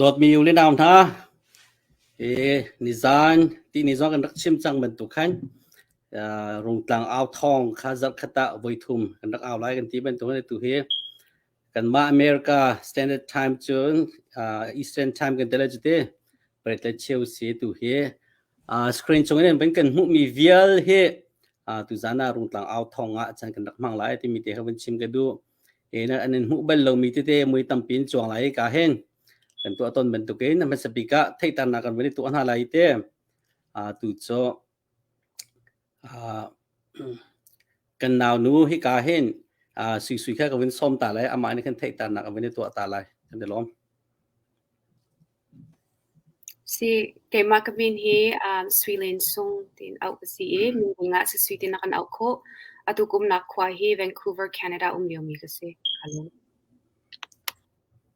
Dawtmi u le nau hna, hi nizan ti ni zong kan rak chim cang bantuk khan Rungtlang au thawng kha zarh khat ah voi thum kan rak au lai kan ti bantuk hi tu hi Kanmah America Standard Time cun uh, Eastern Time kan tel cu ti paritlai cheu si tu hi uh, screen chung in ban kan hmuh mi vial hi uh, tu zan ah rungtlang au thong ah chan kan rak mang lai ti mi te hawan chim ka du e na anan hmuh bal lo mi te te mui tampin chuang lai ka hen kan tu aton ban tukin na hmasapika theitarna kan vani tu hna lai te uh, tu cho Kan naunu hika hin suisui kha ka vun sawm ta lai, amah nih khan theihternak a vun i tuah ta lai, kan i lawm. Si, keimah ka min hi Sui Lin Sung tiin auh ka si i, minung ah sisui tiin a kan auh khawh. Atu kum nak khua hi Vancouver, Canada um liomi ka si. Ka lawm.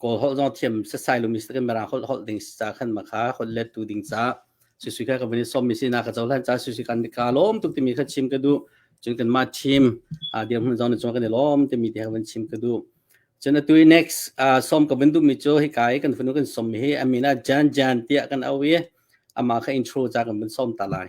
kawl holh zong thiam setsai lu mi camera holh holh ding sa khan ma kha holh let tu ding ca si si kha ka vani som mi si na ka cholan cha si si kan ka lom tuk ti mi kha chim ka du chung kan ma team a dir mun zon chung kan lom ti mi te ka van chim ka du chana tu next som ka ban du mi cho hi kai kan funu kan som mi hi amina jan jan tia kan awi ama kha intro cha kan ban som ta lai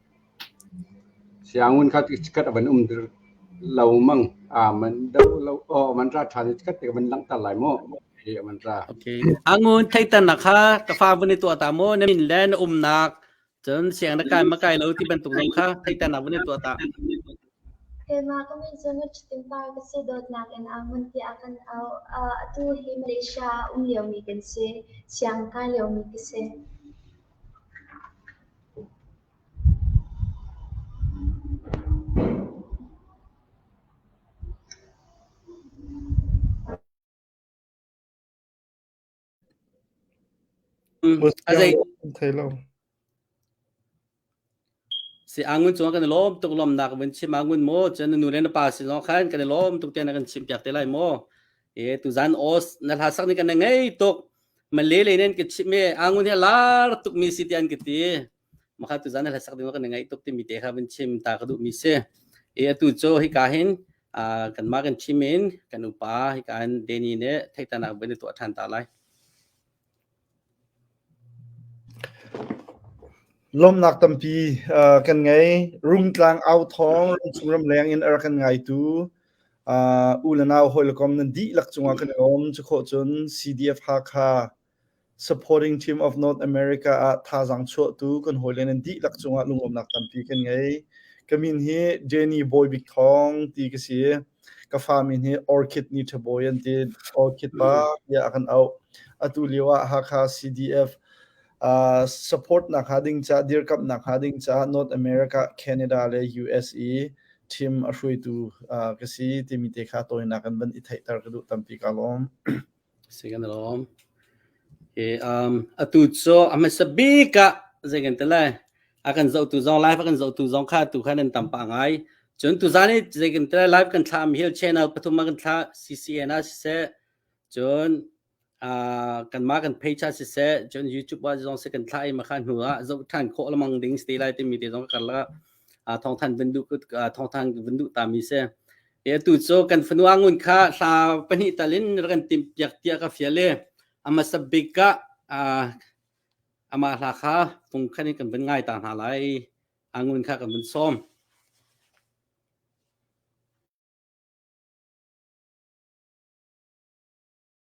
Siangun kha chikkhat a van um dir lo mang. Man do lo aw a man ra ṭhan i chikkhat te ka van langhter lai maw? Hi a man ra. Angun theihternak kha ka fa vun i tuah ta maw? Na min le na umnak, cun siang na kai makai lo ti bantuk zong kha theihternak vun i tuah ta. Keimah ka min cu Ngutṭhuttingpar ka si, dawtnak in a ngun tiah a kan auh. Atu hi Malaysia ah um liomi kan si, siang kai liomi ka si. Mm, a zei Muskiang an thei lo. si angun chung kan i lawm tuk lom nak vin chim angun mo chen nu le na pa si long khan kan i lawm tuk te na kan chim piak te lai mo e tu zan os na la sak ni kan na ngei tuk ma le le nen ke chim me angun he lar tuk mi si ti an ki ti Makha tu zan na hlasak ding kan ngai tuk timi te kha van chim ta ka duh mi si. E atu cu hika hin kan mah kan thim in kan upa hika in Danny ne theitana ban tu than ta lai. Lomnak tampi kan ngei rumtlang au thong rumchung ramleng in ar kan ngai tu u le nau hoi le kom nan di lak cunga kan om chu kho cun CDF Hakha Supporting team of North America ah thazaang chuahtu kan hawile nan dihlak cungah lungawmnak tampi kan ngei. Ka min hi Jenny Bawibik Thawng ti ka si. Ka fa min hi Orchid Nitabawi an ti. Orchid pa tiah a kan auh. Atu lio ah Hakha CDF uh, support nak hnga ding ca, dirkamh nak hnga ding ca North America, Canada le USA team a hruaitu uh, ka si timi te kha tawinak kan van i theihter ka duh tampi ka lawm. Atu cu a hmasa bik ah zei kan ti lai, a kan zohtu zong live a kan zohtu zong kha atu khan an tam pah ngai. Cun tuzaan i zei kan ti lai live kan thlah mi hi channel pathum ah kan thlah CCN ah siseh, cun ah, kanmah kan page ah siseh, cun YouTube ah zong sih kan thlah i makha hnu ah zoh ṭhan khawh lemang ding si ti lai timi te zong ka karlak ah thawngthanh vun duh ah thawngthanh vun duh ta mi si. E atu cu kan fanu angun kha thla pahnih tal in rak kan timh piak tiah ka fial i a hmasa bik ah amah hla kha fung khan in kan vun ngai ta hna lai angun kha kan vun sawm.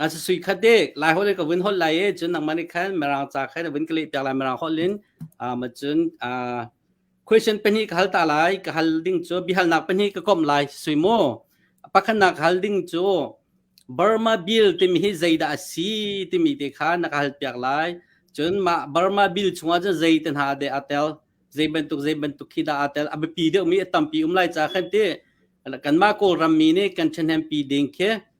A si sui khat de lai hol ka vun hol lai e cun nangmah nih khan Mirang ca kha na vun ka leh piak lai Mirang holin a ma cun a question pahnih ka hal ta lai ka hal ding cu bihalnak pahnih ka kom lai sui mu pakhatnak hal ding cu Burma bill timi hi zeidah a si timi te kha na ka hal piak lai cun mah Burma bill chungah cun zei te hna de a tel zei bantuk zei bantuk khi dah a tel a biapi deuh mi a tampi um lai ca khan ti kanmah kawlram mi nih kan ṭhahnempi ding khi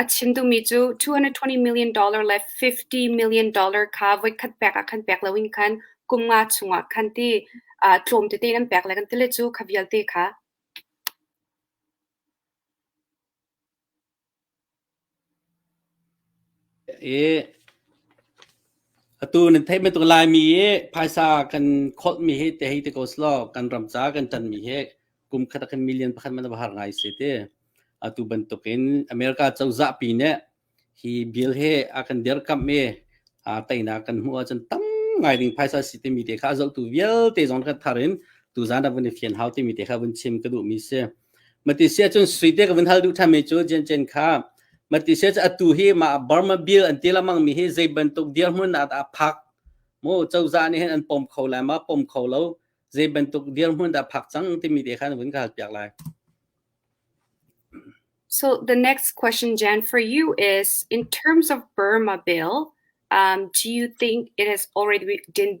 A chim duhmi cu $220 million le $50 million kha voikhat pek ah khan pek loin khan kum nga chungah khan ti tlawm tete in an pek le kan ti le cu kha vialte kha. Atu nan theih bantuk Laimi hi phaisa kan kholhmi hi te hei ti ko selaw kan ram caah kan ṭanmi hi kum khat ah khan million pakhat hmanh a va har ngai si ti. Atu bantukin America cozah pi nih hi bill hi a kan derkamh i aa teinak kan hmuh ahcun tam ngai ding phaisa si timi te kha a zohtu vialte zong kan thar in tuzaan ah vun i fian hau timi te kha vun chim ka duhmi si. Mati sia cun suite ka vun hal duh thami cu Jen Jen kha mati sia cu atu hi ma Burma Bill an ti lamang mi hi zei bantuk dirhmun ah dah phak mu cozah nih hin an pom kho lai ma pom kho lo zei bantuk dirhmun dah phak cang timi te khan vun ka hal piak lai So the next question, Jan, for you is in terms of Burma bill, um, do you think it has already been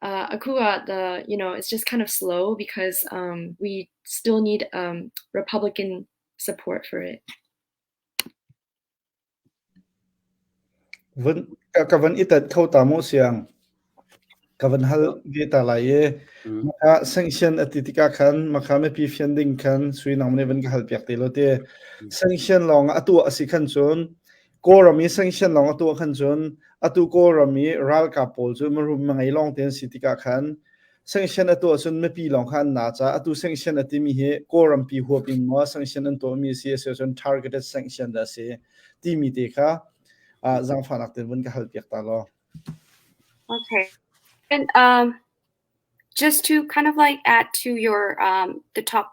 Uh, Akua, the you know, it's just kind of slow because um, we still need um, Republican support for it. Van ka van itat kho ta mo siang ka van hal ge ta lai e maka sanction ati tika khan maka me pi fian ding khan sui nong ne van ka hal piak te lo te sanction long atu asi khan chun Kawlram i sanction lawng a tuah khan cun atu Kawlram i ralkap pawl cu mirum mangei lawng te an si tikah khan sanction a tuah cun mipi lawng kha an na caah atu sanction a timi hi Kawlrampi huap in maw sanction an tuahmi a si a si cun targeted sanction dah a si timi te kha uh, zangfahnak te vun ka hal piak ta law. Okay. And um, just to kind of like add to your um, the top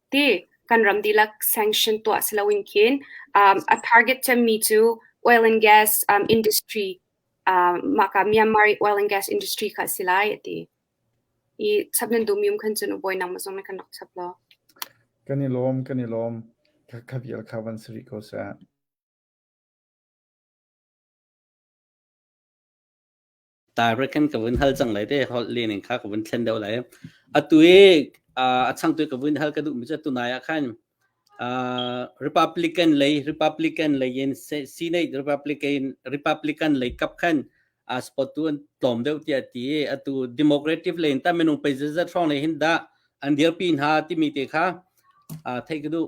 ti kan ram dihlak sanction tuah si loin khin um, a target cemmi cu oil and gas um, industry um, maka Myanmar oil and gas industry kha si lai ati i chapnan dumium khan chun uboi nang mazong na kan nok chap lo kan i lom kan i lom kha vial kha van sri ko sa Direct kan ka vun hal cang lai te holh le ning kha ka vun thlen deuh lai. Atu i a chang tu ka vun hal ka duh mi cu tunai ah khan Republican lei Republican lei in Senate Republican Republican lei kap khan a spot tu an tlawm deuh tiah ti atu democratic lei in ta minung pe zat hrong lei hin dah an dir pi hna timi te kha thei ka duh.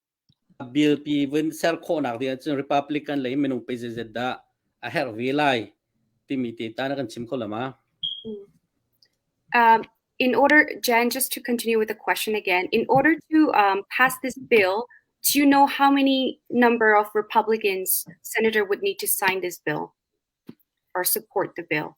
A bilpi vun ser khawhnak ding ahcun Republican lei minung pei zeizat dah a herh ve lai timi te ta na kan chim kho lama? Um, in order, Jen, just to continue with the question again, in order to um, pass this bill, do you know how many number of Republicans senator would need to sign this bill or support the bill?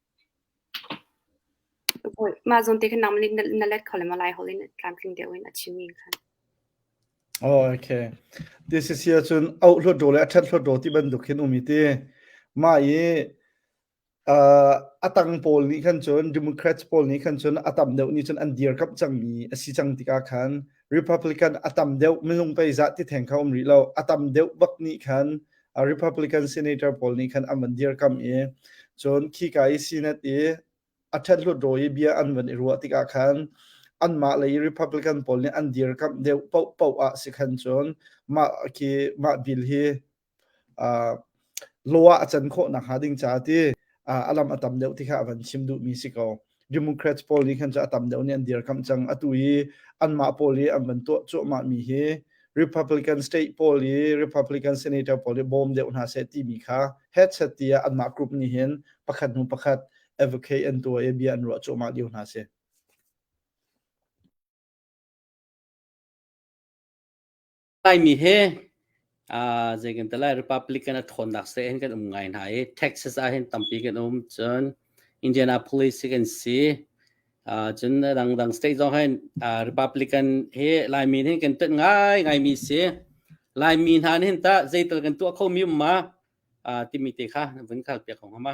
Mah zawn te khin nangmah nih na let kho lem ah Lai holh in tlamtling deuh in a chimmi khan. Oh, okay. Ti si si ahcun auh hlawtdaw le a ṭhat hlawtdaw ti bantuk hin um i ti. Mah i uh, a tang pawl nih khan cun, Democrats pawl nih khan cun a tam deuh nih cun an dirkamh cangmi a si cang tikah khan Republican a tam deuh minung pei zah ti theng kha um rih lo a tam deuh bak nih khan a Republican senator pawl nih khan an van dirkam i cun khi ka i Senate i a ṭhet hlut ro i bia an van i ruah tikah khan anmah lei Republican pawl nih an dirkamh deuh paoh paoh ah si khan cun mah khi mah bill hi law ah a can khawh nakhnga ding caah ti a lam a tam deuh ti kha a van chim duhmi si ko democrats pawl nih khan cu a tam deuh nih an dirkamh cang atu i anmah pawl i an van tuah cuahmah mi hi republican state pawl i republican senator pawl i bawm deuh hna seh timi kha headset ti ah anmah group nih hin pakhat hnu pakhat advocate an tuah i bia an ruah cuahmah lio hna si Laimi he uh, zei kan lai Republic kan thawnnak se hin kan um ngai hna i Texas ah hin tampi kan um cun Indianapolis kan si uh, cun dangdang state zong hin uh, Republican he Laimi hin kan tat ngai ngai mi si Laimi hna hin ta zeital kan tuah kho mi um ma uh, timi te kha vun kal piak hong hama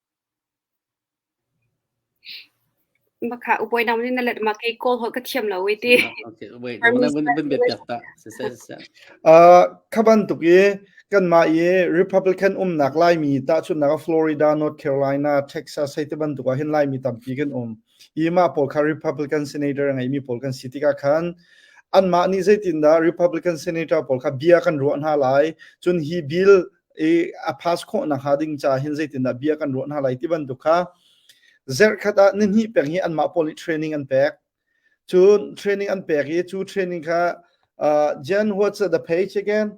Makha upuainak in na let ma kei kawl holh ka thiam lo i ti. Khabantuk i kanmah i Republican umnak Laimi tahchunhnak Florida, North Carolina, Texas hei tibantuk ah hin Laimi tampi kan um i mah pawl kha Republican senator a ngeimi pawl kan si tikah khan anmah nih zeitindah Republican senator pawl kha bia kan ruah hna lai cun hi bill i a pass khawh na ha ding ca hin zeitindah bia kan ruah hna lai ti bantuk kha zerkhat ah ni hnih peng hi anmah pawl nih training an pek cun training an pek i cu training kha uh, Jen what's the page again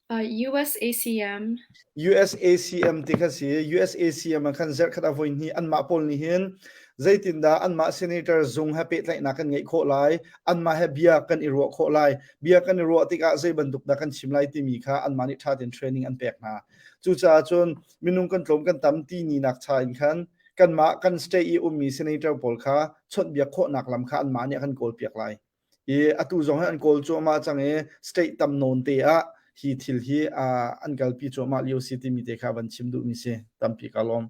uh, USACM USACM ti kha si USACM an khan zerkhat a voi ni anmah pawl ni hin zeitindah anmah senator zung ha pehtlaihnak kan ngei khawh lai anmah he bia kan i ruah khawh lai bia kan i ruah tikah zei bantuk dah kan chim lai timi kha anmah nih ṭha tein training an pek hna. Cucaah cun minung kan tlawm kan tam ti ni nak cha in khan kanmah kan stay i ummi senator pawl kha chawnhbiak khawhnak lam kha anmah nih a kan kawlpiak lai. I atu zong hi an kawl cu amah cang i state tam nawn te ah hi thil hi an kalpi cu amah lio si timi te kha van chim duhmi si tampi ka lawm.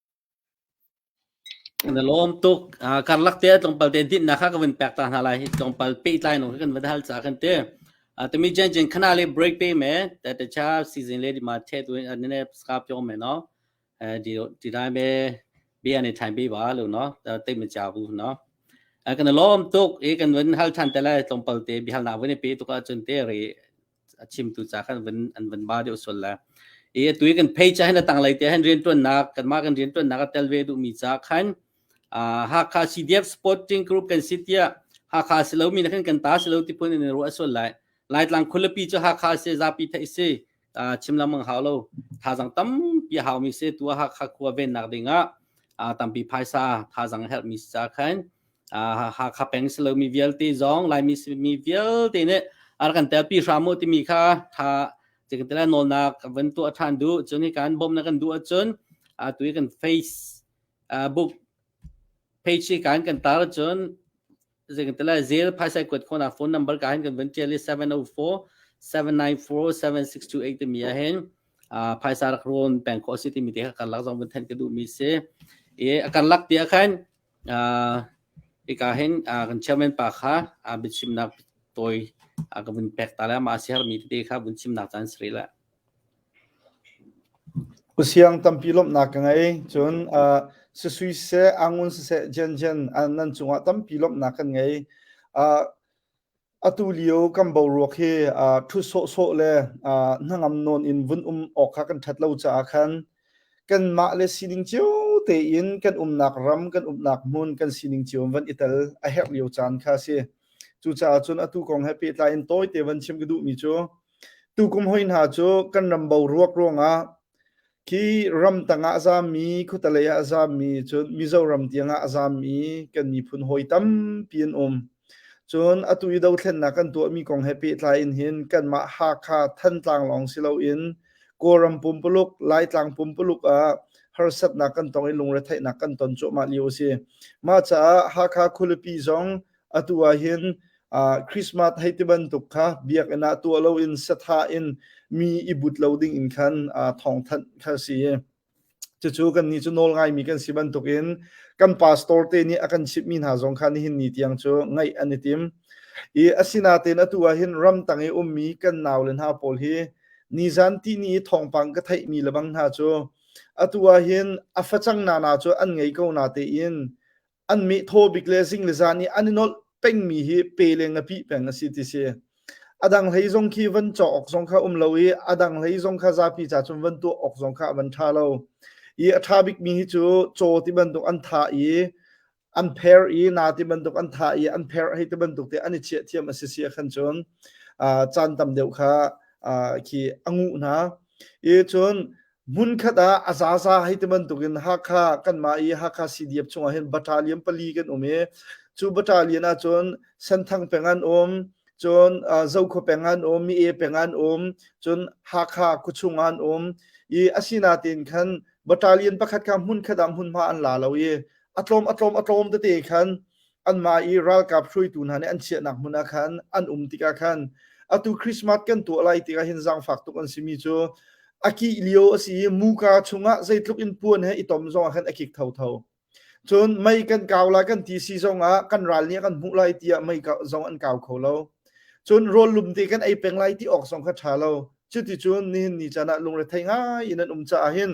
Na lawm tuk. Ah, karlak te ah tlawmpal te dinhnak kha ka vun pek ta hna lai. Hi tlawmpal pehtlai nung khi kan van hal caah kan ti. Ah, tumi jen jen khana le break pe me. Ta ta cha season le di ma the tu in ne skap jong me no. Eh, di di dai me bi an i time bi ba lu no. Ta te me cha bu no. Ah, kan lawm tuk. I kan van hal than te lai tlawmpal te bihal na vun pe tu ka chun te ri a chimtu ca khan van an van ba deuh sual la i atu kan phei cha hin tang lei te hin riantuannak kanmah kan riantuannak a tel ve duh mi ca khan Hakha CDF Sporting Group kan si tiah Hakha si lo mi na kan kan ta si lo ti phun in ru asual lai Laitlang khulipi cu Hakha se zapi thei si chim lam mang hau lo thazang tam pi hau mi se tua Hakha khua ven nak ding ah tampi phaisa thazang help mi ca khan Hakha peng si lomi vialte zong Laimi mi vialte nih a rak kan telpi hram u timi kha tha cikin tila nawlnak van tuah ṭhan duh cun hi kan bawmh na kan duh ahcun atu i kan Facebook page hi kan kan tar cun zeikan tila zel phaisai kuat khona phone number ka hin kan van ṭial i 704-79628 timi ah hin phaisa rak rawn peng khawh si timi te kha kan lak zong van thanh ka duhmi si i a kan lak ti ah khan Hika hin kan chairman pa kha biachimnak tawi ka vun pek ta le amah a siarmi tete kha vun chimnak caan si rih le. Usiang tampi lawmhnak ka ngei. Cun sisui seh, angun siseh, jianjian nan cungah tampi lawmhnak kan ngei. Atu lio kan boruak hi uh, ṭhut sawhsawh le uh, hnangam nawn in vun um awk kha kan ṭhat lo caah khan kanmah le sining cio tein kan umnak ram, kan umnak hmun kan sining cio van i tel a herh lio caan kha a si. Cucaah cun atu kong he pehtlai in tawite van chim ka duhmi cu tukum hoi hna cu kan ram boruak ruangah Khi ramtang ah a zaammi, khuatalei ah a zaammi, cun Mizoram tiang ah a zaammi kan miphun hawi tampi an um. Cun atu i dothlennak kan tuahmi kong he pehtlai in hin kanmah Hakha Thantlang lawng si loin Kawlram pumpuluk, Laitlang pumpuluk ah harsatnak kan tong i lungretheihnak kan ton cuahmah lio a si. Mah caah Hakha khualipi zong atu ah hin uh, Christmas hei ti bantuk kha biakinn ah tuah lo in satha in mi i but lo ding in khan uh, thawngthanh kha si cucu kan ni cu nawl ngai mi kan si bantuk in kan pastor te nih a kan chip mi hna zong khan nihin ni tiang cu ngaih an i tim i asinatein atu ah hin ram tang i um mi kan nau le hna pawl hi ni zan ti ni thawngpang ka theih mi lebang hna cu atu ah hin a facang na na cu an ngei ko na te in an mi thaw bik le zing le zan i an i nolh pengmi hi pe le ngapi peng a si ti si adang hlei zong khi van chaw ok zong kha um lo i adang hlei zong kha zapi ca chung van tuah ok zong kha van tha lo i a tha bik mi hi chu chaw ti bantuk an tha i an pher i na ti bantuk an tha i an pher hei ti bantuk te an i chia thiam a si sia khan chun chan tam deuh kha khi angu hna i chun Hmunkhat ah a zaza hei ti bantukin Hakha kanmah i Hakha CDF chungah hin battalion pali kan um i cu battalion ah cun Senthang peng an um cun Zokhua peng an um Mi-e peng an um cun Hakha khuachung an um i asinain khan battalion pakhat kha hmunkhat ah hmunhma an la lo i a tlawm a tlawm a tlawm tete khan anmah i ralkap hruaitu hna nih an chiahnak hmun ah khan an um tikah khan atu Christmas kan tuah lai tikah hin zangfak tuk an simi cu a kih lio a si i muka chungah zeitluk in puan he i tom zongah khan a kik thotho cun mei kan kau lai kan ti si zongah kan ral nih kan hmuh lai tiah mei zong an kau kho lo cun rawl lum te kan ei peng lai ti awk zong kha tha lo cuticun nihin ni can ah lungre thei ngai in an um caah hin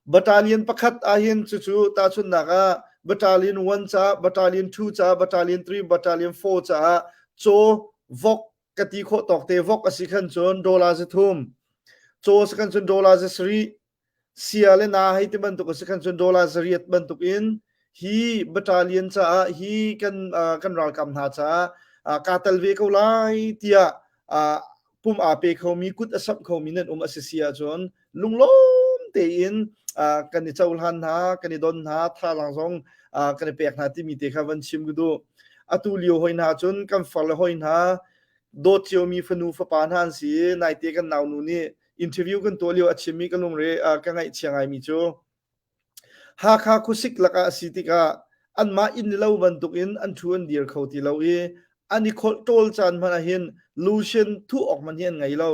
Battalion pakhat ahhin cucu tahchunhnak ah Battalion 1 caah Battalion 2 caah Battalion 3 Battalion 4 caah caw vok ka ti khawh tawk te vok a si khan cun dollar za thum caw si khan cun dollar za sarih sia le na hei ti bantuk a si khan cun dollar za riat bantuk in hi battalion caah hi kan kan ralkap hna caah kaa tel ve ko lai tiah pum aa pe khomi kut a samh khomi nan um a si si ahcun lunglawm tein kan i cohlan hna kan i don hna thalang zong kan i pek hna timi te kha van chim gudu atu lio hoi hna cun kan far le hoi hna dawt ciomi fanu fapa hna an si naite kan nau nu nih interview kan tuah lio a chimmi ka lungre ka ngaih chia ngai mi cu Hakha khuasik lakah a si tikah anmah inn le lo bantukin an thu an dir kho ti lo i an i kholh ṭawl caan hmanh ahhin lucien thuh awk hmanh hi an ngei lo.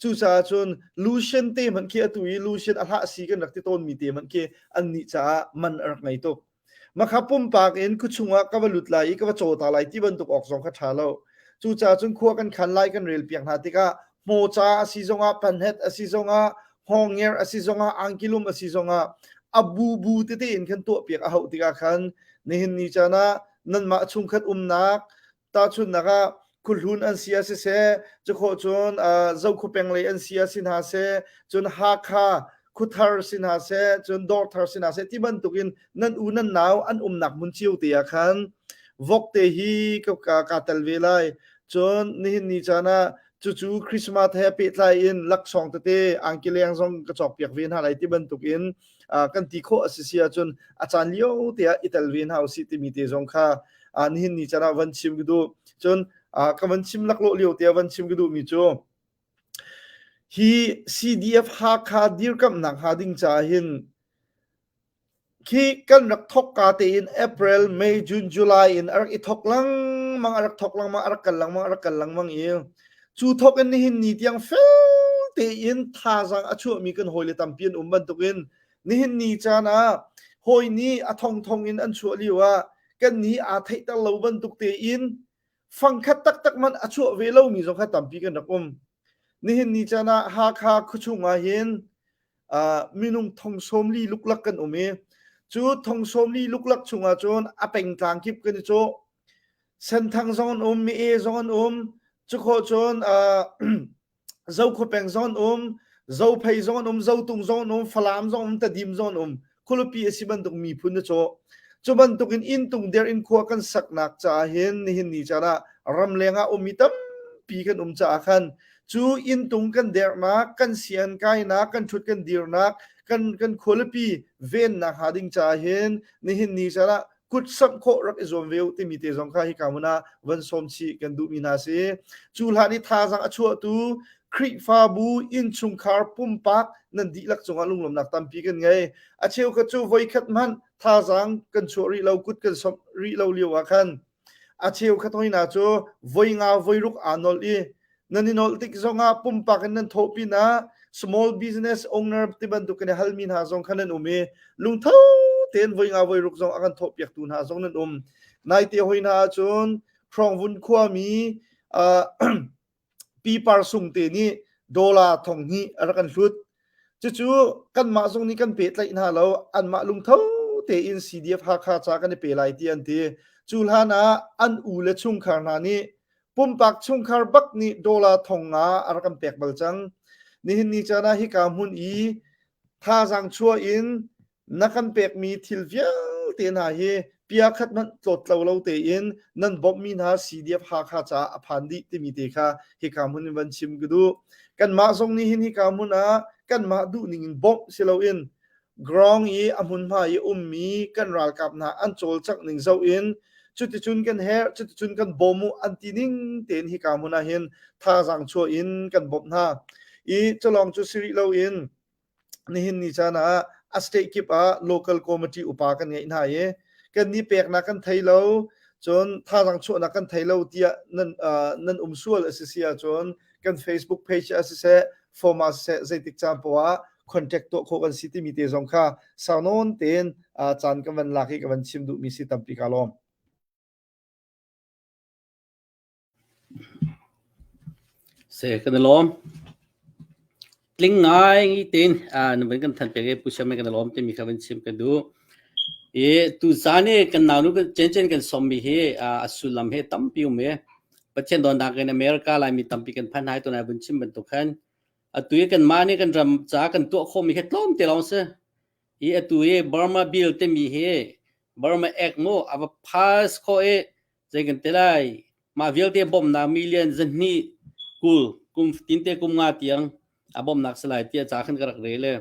Cucaah cun lucien te hmanh khi atu i lucien a hlah si kan rak ti tawnmi te hmanh khi annih caah man a rak ngei tuk. Makha pumpak in khuachung ah ka va lut lai i ka va caw ta lai ti bantuk awk zong kha ṭha lo. Cucaah cun khua kan khan lai kan relpiak hna tikah hmoca a si zongah panhet a si zongah hongnger a si zongah angkilum a si zongah a bu bu tete in kan tuahpiak a hauh tikah khan nihin ni caan ah nanmah chungkhat umnak tahchunnak ah khuhlun an si ah siseh cukhawh cun zokhaw penglei an si ah si hna seh cun hakha khuthar si hna seh cun dawrthar si hna seh ti bantukin nan u nan nau an umnak mun chiu te ah khan vok te hi ka tel ve lai cun nihin ni caan ah cucu christmas he pehtlai in laksawng tete angki leng zong ka cawk piak ve hna lai ti bantukin kan ti khawh a si si ahcun a caan lio te ah i tel ve hna usih timi te zong kha nihin ni can ah van chim ka duh cun ka van chim laklawh lio te ah van chim ka duh mi cu hi CDF Hakha dirkamhnak ha ding ca hin khi kan rak thok ka te in April May June July in arak i thok lang mang arak thok lang mang arak kal lang mang arak kal lang mang i Cu thawk in nihin ni tiang fel tein thazaang a chuahmi kan hawile tampi an um bantukin nihin ni caan ah hawi nih a thongthong in an chuah lio ah kan ni aa theihter lo bantuk tein fangkhat taktak man a chuah ve lomi zong kha tampi kan rak um. Nihin ni caan ah Hakha khuachung ah hin minung thong sawmli luklak kan um i cu thong sawmli luklak chungah cun a pengtlang kip kan i cu senthang zong an um mi e zong an um cukho cun zo kho peng zong an um zo phei zong an um zo tung zong an um falam zong um tadim zong an um khualupi a si bantuk miphun na cawh cu bantukin intung der in khua kan saknak caah hin nihin ni caan ah ramleng ah um mi tampi kan um caah khan cu intung kan dernak kan sian kainak kan thut kan dirnak kan kan khualipi vennak ha ding caah hin nihin ni caan ah kut samh khawh rak i zuam ve uh timi te zong kha hika mun ah van som chih kan duhmi na si cu hlan i thazang a chuahtu Khrihfabu innchungkhar pumpak nan dihlak cungah lunglawmnak tampi kan ngei a cheu kha cu voikhat hmanh thazang kan chuah rih lo kut kan somh rih lo lio ah khan a cheu khat hoina cu voi nga voi ruk aa nol i nan in olh tik zongah pumpak in nan thawh pinah small business owner ti bantukin hal mi hna zong khan nan um i lungtho tein voi nga voi ruk zong a kan thawh piak tu hna zong nan um nai te hoi hna ahcun Hrongvun khua mi pipar sung te nih dollar thong hi a rak kan hlut cucu kanmah zong nih kan pe tlaih hna lo anmah lungtho tein CDF Hakha ca kan i pe lai ti an ti cu hlan ah an u le chungkhar hna nih pumpak chungkhar bak nih dollar thong nga a rak kan pek bal cang nihin ni caan ah hika hmun i thazaang chuah in na kan pekmi thil vialte hna hi pia khat hmanh tlawt lo lo tein nan bawmhmi hna CDF Hakha ca a phan dih timi te kha hika hmun in van chim ka duh kanmah zong nih hin hika hmun ah kanmah duh ning in bawmh si loin Ground i a hmunhma i ummi kan ralkap hna an cawlcangh ning zoh in cuticun kan herh cuticun kan bawm u an ti ning tein hika hmun ah hin thazaang chuah in kan bawmh hna i culawng cu si rih lo in nihin ni caan ah a state kip ah local committee upa kan ngeih hna i kan ni peknak kan thei lo cun thazaang chuahnak kan thei lo tiah nan um sual a si si ahcun kan facebook page ah siseh form ah siseh zeitik caan poah contact tuah khawh kan si timi te zong kha sau nawn tein caan ka van lak i ka van chim duhmi si tampi ka lawm se kan lawm Tling ngai tein na vun kan than pek i Pu Siam he kan i lawm timi kha vun chim ka duh. I tuzaan i kan naunu kan Cenchen kan sawmmi hi a sullam hi tampi um i Pathian dawtnak in America Laimi tampi kan phan hai tunai vun chim bantuk khan atu i kanmah nih kan ram caah kan tuah khawhmi hi tlawmte lawng si. I atu i Burma Bill timi hi Burma Act mu a va pass khawh i Zei kan te lai. Mah vialte bawmhnak million zanhnih kul kum tinte kum nga tiang a bawmnak si lai tiah ca khan ka rak rel e.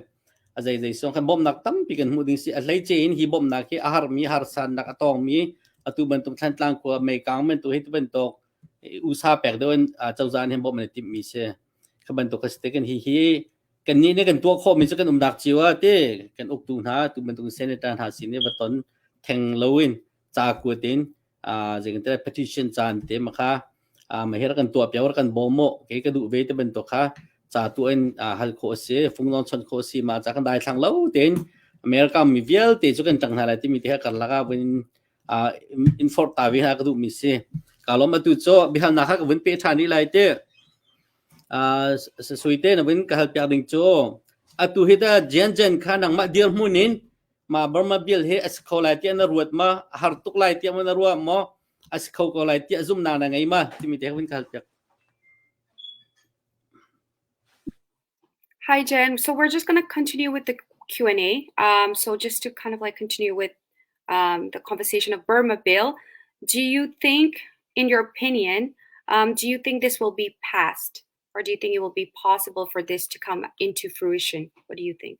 A zei zei song khan bawmnak tampi kan hmuh ding si a hlei ce in hi bawmnak hi a harmi harsannak a tawngmi atu bantuk thlantlang khua meikang men tu hi tu bantuk usa pek deuh in cozan hin bawm an i timhmi si kha bantuk ka si te kan hi hi kan nih ne kan tuah khawhmi cu kan umnak cio ah te kan uktu hna tu bantuk senator hna sin i va ton theng loin ca kuat in zeicah petition caan te ma kha ma hi kan tuah piang kan bawm mo kei ka duh ve te bantuk kha ca tu in hal khawh a si fung lon chon khawh a si ma ca kan dai thlang lo tein America mi vialte cu kan tang hna lai timi te ha kar laka vin infort ta vi ha ka duh mi si kalom atu cho bihal na ha ka vin pe tha ni lai te sui te na vin ka hal piak ding cho atu hi ta jen jen kha nang ma dir mun in ma Burma bill hi a si kho lai tiah na ruat ma a har tuk lai tiah ma na ruah maw a si kho ko lai tiah zumnak na ngei ma timi te hun kal piak Hi Jim. So we're just going to continue with the Q&A. Um, so just to kind of like continue with um, the conversation of Burma bill, do you think, in your opinion, um, do you think this will be passed or do you think it will be possible for this to come into fruition? What do you think?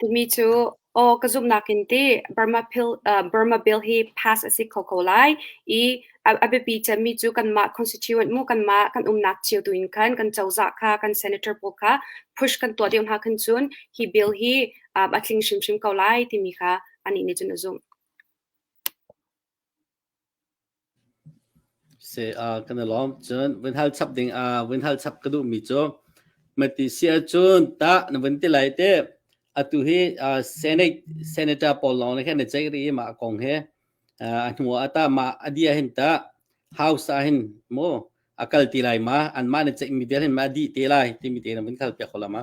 Tumi cu aw ka zumhnak in ti Burma Pil, uh, Burma Bill hi pass a si kho ko lai i a, a biapi cemmi cu kanmah constituent mu kanmah kan umnak cio tu in khan kan cozah kha kan senator pawl kha push kan tuah deuh hna khan cun hi bill hi uh, a tling hrimhrim ko lai timi kha anih nih cun a zumh. Se ah kan i lawm. Cun vun hal chap ding ah vun hal chap ka duhmi cu Matisi ahcun tah na vun ti lai teh atu hi uh, Senate senator pawl lawng le khan na ceih rih i mah kong he uh, a hnu ah ta mah a dia hin ta House ah hin mu a kal ti lai ma an mah na ceih mi dir hin ma di te lai timi te na vun kal piak ko la ma.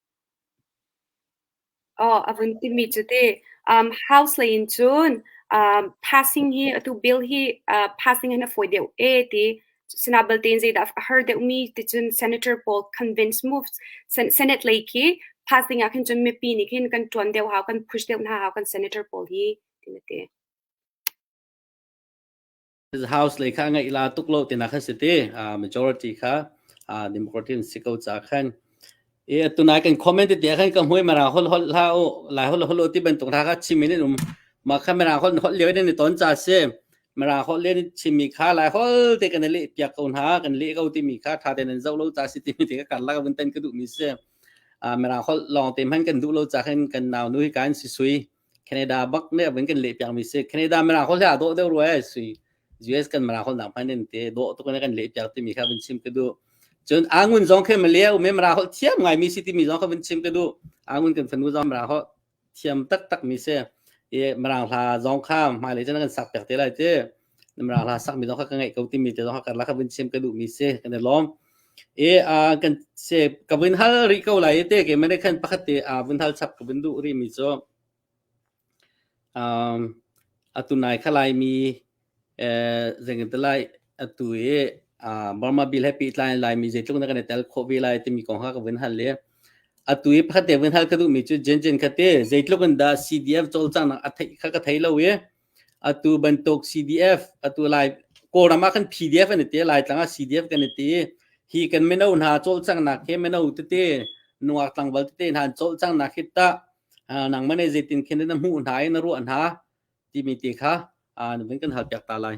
Aw a vun timi cu tih house lei in cun passing hi atu bill hi passing in a fawi deuh e ti. Sinah belte in zeidah a har deuhmi ticun senator pawl convince moves senate lei khi passing ah khin cun mipi nih khin kan ṭuan deuh hau, kan push deuh hna hau kan senator pawl hi, tiin a ti. house lei kha a ngeih la tuk lo tinak kha si ti uh, majority kha uh, democracy in si ko ca khan e atu nai kan comment ti khan ka hmui mara hol hol la o lai hol hol ti ban tung ra kha chimin in um ma kha mara hol hol le ni ton cha se mara hol le ni chimi kha lai hol te kan le pia ko na kan le ko ti mi kha tha ten zo lo cha si ti mi ti ka la ka bun tan ka du mi se a mera khol long te man kan du lo cha khen kan naw nu hi kan si sui Canada bak ne bin kan le piang mi si Canada mara khol ha do deu roi si US kan mara khol na pan den te do to kan kan le piang ti mi kha bin chim ka du cun angun zong khe male u me mara khol thiam ngai mi si ti mi zong kha bin chim ka du angun kan fanu zong mara khol thiam tak tak mi se e marang hla zong kha mai le chen kan sak pek te lai te na mara hla sakmi zong kha ka ngeih ko timi te zong kha karlak ah vun chim ka duhmi si kan i lawm. I uh, kan se ka vun hal rih ko lai i te ke mane khan pakhat te uh, vun hal chap ka vun duh rih mi cu um, atu nai khalai mi eh zengin lai atu i uh, Burma Bill happy tlai lai mi zeitluk na kan i tel kho ve lai timi kong kha ka vun hal le atu i pakhat te vun hal ka duh mi cu jen jen khate zeitluk in da CDF cawlcang nak a thei kha ka thei lo i Atu bantuk CDF atu Lai Kawlram ah kan PDF an ti Laitlang ah CDF kan ti hi kan mino hna cawlcanghnak he mino tete nungak tlangval tete hna cawlcanghnak hi ta nang mane zeitin khen na hmuh hna i na ruah hna timi ti kha nuven kan hal piak ta lai.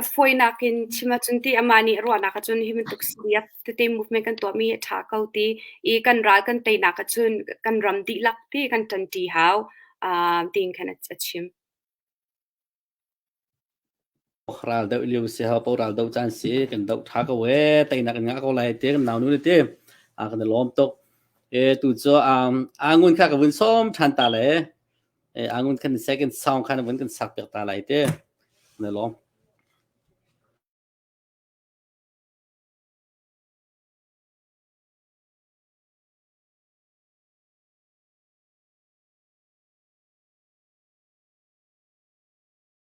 A fawinak in chim ahcun ti amah nih ruahnak ahcun hi bantuk step tete movement kan tuahmi hi a ṭha ko ti i kan ral kan teinak ahcun kan ram dihlak ti kan ṭanṭi hau um tiin khan a chim. Raldoh lio si hau paoh raldoh caan si kan doh ṭha ko ee teinak in ngah ko lai ti kan naunu nih ti a kan i lawm tuk. E tu cu um a ngun kha ka vun sawm ṭhan ta le Eh, angun kan second song khan vun kan sak piak ta lai te na lawm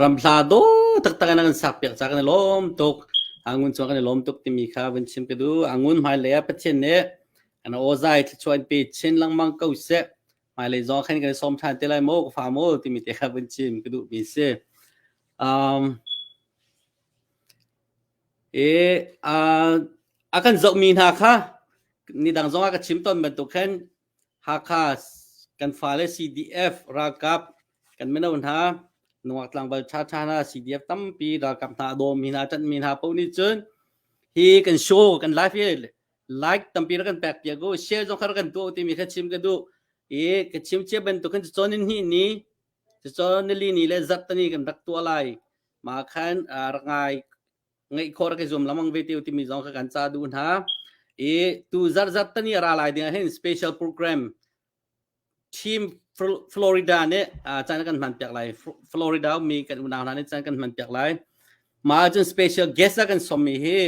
Ramhla daw taktak in a kan sakpiak caah kan i lawm tuk. Angun cungah kan i lawm tuk timi kha vun chim ka duh. Angun hmailei ah Pathian nih an awzai thluachuah in pe chin lengmang ko seh. Hmailei zong khan kan i sawm ṭhan te lai maw, ka fa maw timi te kha vun chim ka duh mi si. Um, i uh, a kan zohmi hna kha nidang zongah ka chim tawn bantuk khan Hakha kan fale CDF ralkap kan mino hna Nuak tlangval ṭhaṭha hna CDF tampi ralkap hna a dawmi hna ṭanhmi hna paoh nih cun hi kan show kan live hi like tampi rak kan pek piak u share zong kha rak kan tuah u timi kha chim ka duh i ka chim cia bantuk khan cun in hi ni cucun nili ni le zarhtani kan rak tuah lai mah khan rak ngai ngeih khor ke zum lamang ve teo timi zong ka kan cha du hna i tu zarjat tani ra lai ding hin special program team Florida ne chan kan man piak lai Florida mi kan unau hna ne chan kan man piak lai ma cun special guest a kan som mi hi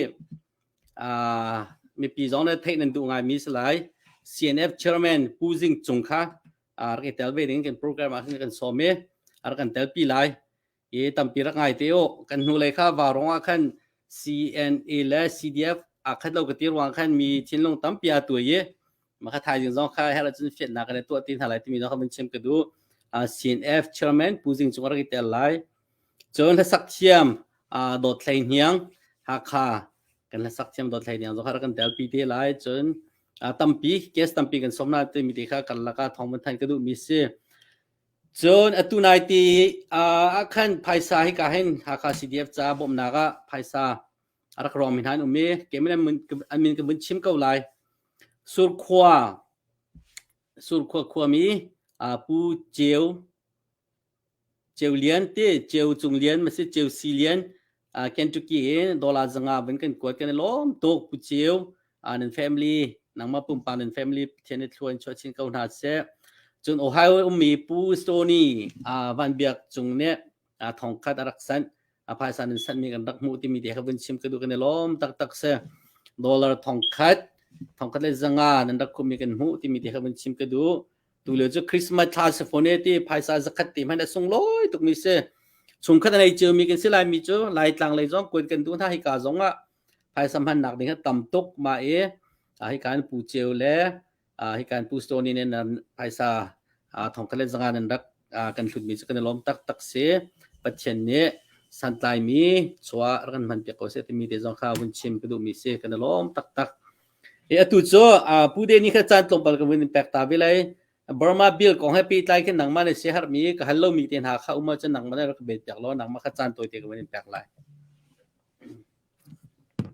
mipi zong ne theih nan du ngai mi salai CNF chairman Pu Jing Cung kha ar ke tel ve ding kan program a kan som mi ar kan tel pi lai i tampi rak ngai te u kan hnulei kha varong ah khan CNA le CDF aa khat lo ka ti ruang khan mi thinlung tampi aa tuai i maka thaizing zong kha her cun fiannak ka le tuah ti hna lai timi zong kha mun chim ka du CNF chairman Pu Zing Cung rak i tel lai cun hlasak thiam dawt thlei hniang Hakha kan hlasak thiam dawt thlei hniang zong kha kan tel pi te lai cun tampi case tampi kan som na ti mi te kha kan laka thong mun than ka du mi si Cun atu nai ti ah khan phaisa hika hin Hakha CDF caah bawmhnak ah phaisa a rak rawngmi hna an um i keimah an min ka vun chim ko lai. Surkhua, Surkhua khuami Pu Ceu, Ceu Lian ti Ceu Cung Lian masin Ceu Si Lian uh, Kentucky dollar zanga vun kan kuat kan lom tuk puchiu uh, nan family nangma pumpa nan family thian thluan cho chin ko na se chun Ohio ummi pu Stony uh, van biak chung ne uh, thongkhat araksan apaisan nan san mi kan rak mu timi te kha vun chim ka du kan lom tak tak se dollar thongkhat thongkhat le zanga nan rak khumi kan mu timi te kha vun chim ka du Tule cu Christmas thla si fone ti phaisa zakhat ti hman a sunglawi tukmi si. Chung khat nei ceu mi kan si lai mi cu lai tlang lei zong kuan kan du hna hika zong ah phaisa hman nak ding tam tuk ma i hi kan pu ceu le hi kan pu stoni ne nan phaisa thong kalen zanga nan rak kan hlut mi cu kan lom tak tak si pathian nih santlai mi chua ran man pe ko se ti mi te zong kha hun chim ka du mi si kan lom tak tak Atu cu Pu Danny kha caan tlawmpal ka vun in pek ta ve lai. Burma Bill kong he pehtlai khin nangmah nih siaherhmi ka hal lomi te hna kha um ahcun nangmah nih rak ka bet piak law nangmah kha caan tawi te ka vun in pek lai.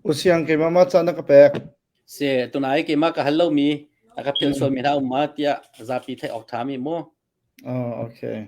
Usiang keimah mah caan na ka pek. Si, tunai keimah ka hal lomi a ka philsualmi hna um ma tiah zapi theih awk ṭhami mu. Oh, okay.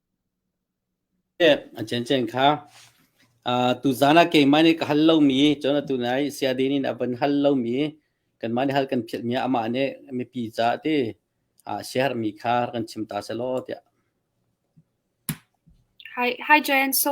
A ciencien kha tuzaan ah keimah nih ka hal lomi cun atu lai Sayadaw nih a van hal lomi kanmah nih hal kan philhmi ah amah nih mipi caah ti siaherhmi kha rak kan chim ta selaw tiah. Hi Joanne. So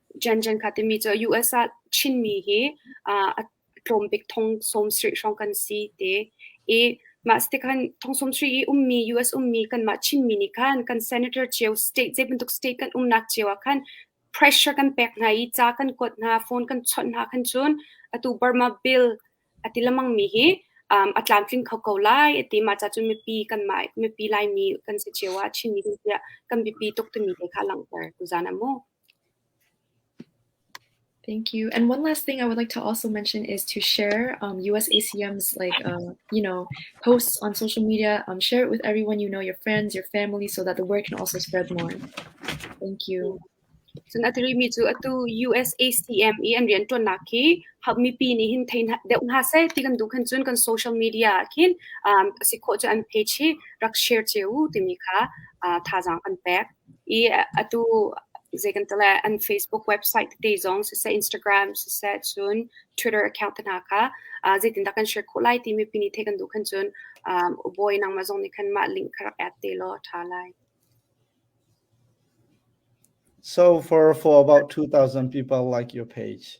Jianjiangka timi cu US ah Chinmi hi a tlawmbik thong sawmsarih hrawng kan si te i mah si tikhan thong sawmsarih i ummi US ummi kanmah Chinmi nih khan kan senator cio state zei bantuk state kan umnak cio ah khan pressure kan pek hna i ca kan kuat hna phone kan chawnh hna khan cun atu Burma bill a ti lemang mi hi a tlamtling kho ko lai ati mah ca cu mipi kanmah mipi laimi kan si cio ah Chinmi kan tiah kan biapi tuk timi te kha langhter tu zan a mu. Thank you. And one last thing I would like to also mention is to share um, USACM's like uh, you know posts on social media. Um, share it with everyone you know, your friends, your family, so that the word can also spread more. Thank you. Sun atiri mi cu atu USACM i an rian tuan nak hi hab mi pi ni hin thein deuh nga se ti kan du khan cun kan social media khin um si kho chu an page hi rak share che u timi kha uh, thazang an pek I atu zei kan ti lai an Facebook website tete zong siseh Instagram siseh cun Twitter account te hna kha ah zeitindah kan share khawh lai timi pini theih kan duh khan cun um Ubawi nangmah zong nih khan mah link kha rak add te law ṭha lai. So for for about two thousand people like your page.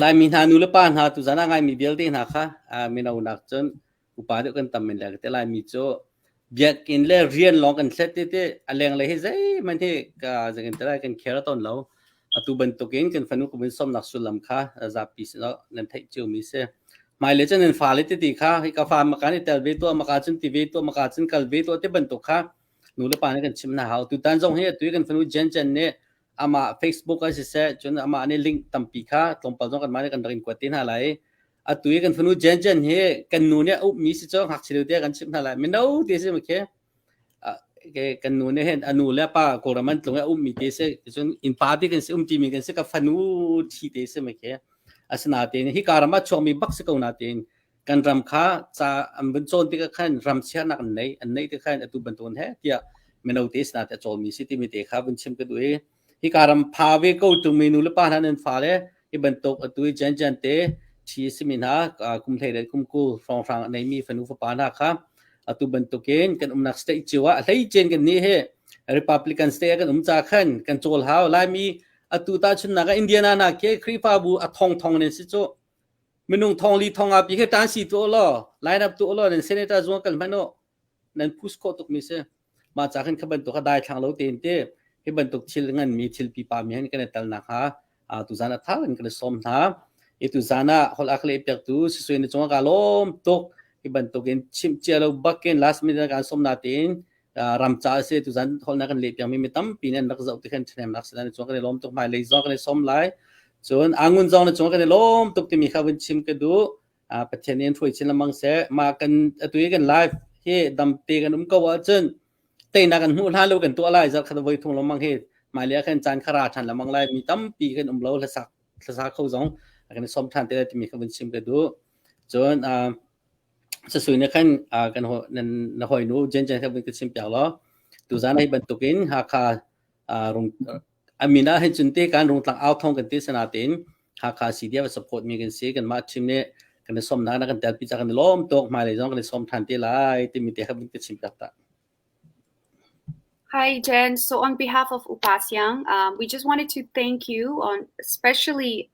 Laimi hna nulepa hna tu zan ah ngai mi vialte hna kha mino nak cun upa deuh kan tam men lai ka ti. Laimi cu biakinn le rian lawng kan thlet tete a lenglei hi zeihmanh hi zekin ti lai kan care tawn lo. Atu bantukin kan fanu kumin somnak sullam kha zapi sinah nan theih cio mi si. Hmailei cun nan fale tete kha hi ka fa maka nih tel ve tuah maka cun ti ve tuah maka cun kal ve tuah te bantuk kha nulepa nih kan chim hna hau. Tutan zong hi atu kan fanu Jen Jen nih amah Facebook ah siseh cun amah nih link tampi kha tlawmpal zong kanmah nih kan rak in kuat te hna lai atu i kan fanu Jen Jen hi kan nu nih a ukmi si cu ngakchia te kan chimh hna lai mino te si makhe kan nu nih hin a nu le pa kawlram an tlung a ummi te si cun in pa te kan si um timi kan si ka fanu thi te si makhe asinatein hi karam a chuakmi bak si ko natein kan ram kha ca an vun cawn tikah khan ram sianak an neih an neih tikhan atu bantuan he tiah mino te sinah te cawmi si timi te kha vun chim ka duh i hi ka ram pha ve ko tu minu le pa hna nan fa le hi bantuk atu i jan jan te thi simi hna kum hlei le kum ku hrong hrang nei mi fanu fapa hna kha atu bantukin kan umnak state chiwa hlei chen kan ni he republican state kan um cha khan kan chol hau lai mi atu ta chun naga indiana na ke khrifa bu a thong thong ne si chu Minung thong li thong ah pi khi tan si tu law line up tu law nan senator zuang kan hman u nan push khawh tuk mi si ma ca khan kha bantuk kha dai thlang lo tein te hi bantuk thil ngan mi thil pipa mi han kan i tal nak ha tu zan a thar in kan som hna i tu zan ah hol ak le pek tu si suin ni chunga ka lom tuk hi bantuk in chim chia lo bakin last minute kan som na tein ram ca si tu zan holnak kan le piang mi mi tampi ne nak zoh ti khan thnem nak slan chung kan lom tuk mai le zo kan som lai cun angun zong ne chung kan lom tuk ti mi kha vun chim ka du pathian in hrui chin lamang se ma kan atui kan live hi dam te kan um ko wa chun te na kan hu la lo kan to lai zal khat voi thung lomang hi mai le khan chan khara than lamang lai mi tampi kan um lo la sak la sa kho zong kan som than te ti mi kha vun chim ka du cun Sasui nih khan ah kan hawi na hawinu Jenjen kha vun ka chim piak law tuzan hi bantuk in Hakha ah rung a min ah hin cun te kan rungtlang au thong kan ti sinain Hakha CDF a support mi kan si kanmah chim nih kan i sawmnak na kan telpi ca kan i lawm tuk hmailei zong kan i sawm ṭhan te lai timi te kha vun ka chim piak ta. Hi Jen. So on behalf of Upa Siang, um, we just wanted to thank you on especially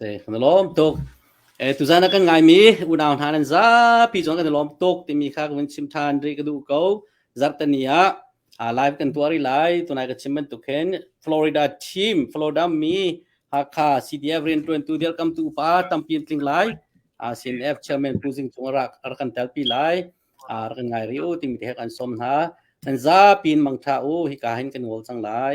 Kan i lawm tuk. Tuzaan ah kan ngaimi unau hna nan zapi zong kan i lawm tuk timi kha ka vun chim ṭhan rih ka duh ko. Zarhteni ah live kan tuah rih lai. Tunai ka chim bantuk khin Florida team, Florida mi Hakha CDF rianṭuantu dirkamtu pa tampi an tling lai. CNF chairman Pu Zing Cung a rak kan telpi lai. Rak kan ngai rih u timi te he kan sawm hna. Nan zapi in mangṭha u. Hika hin kan ngol cang lai.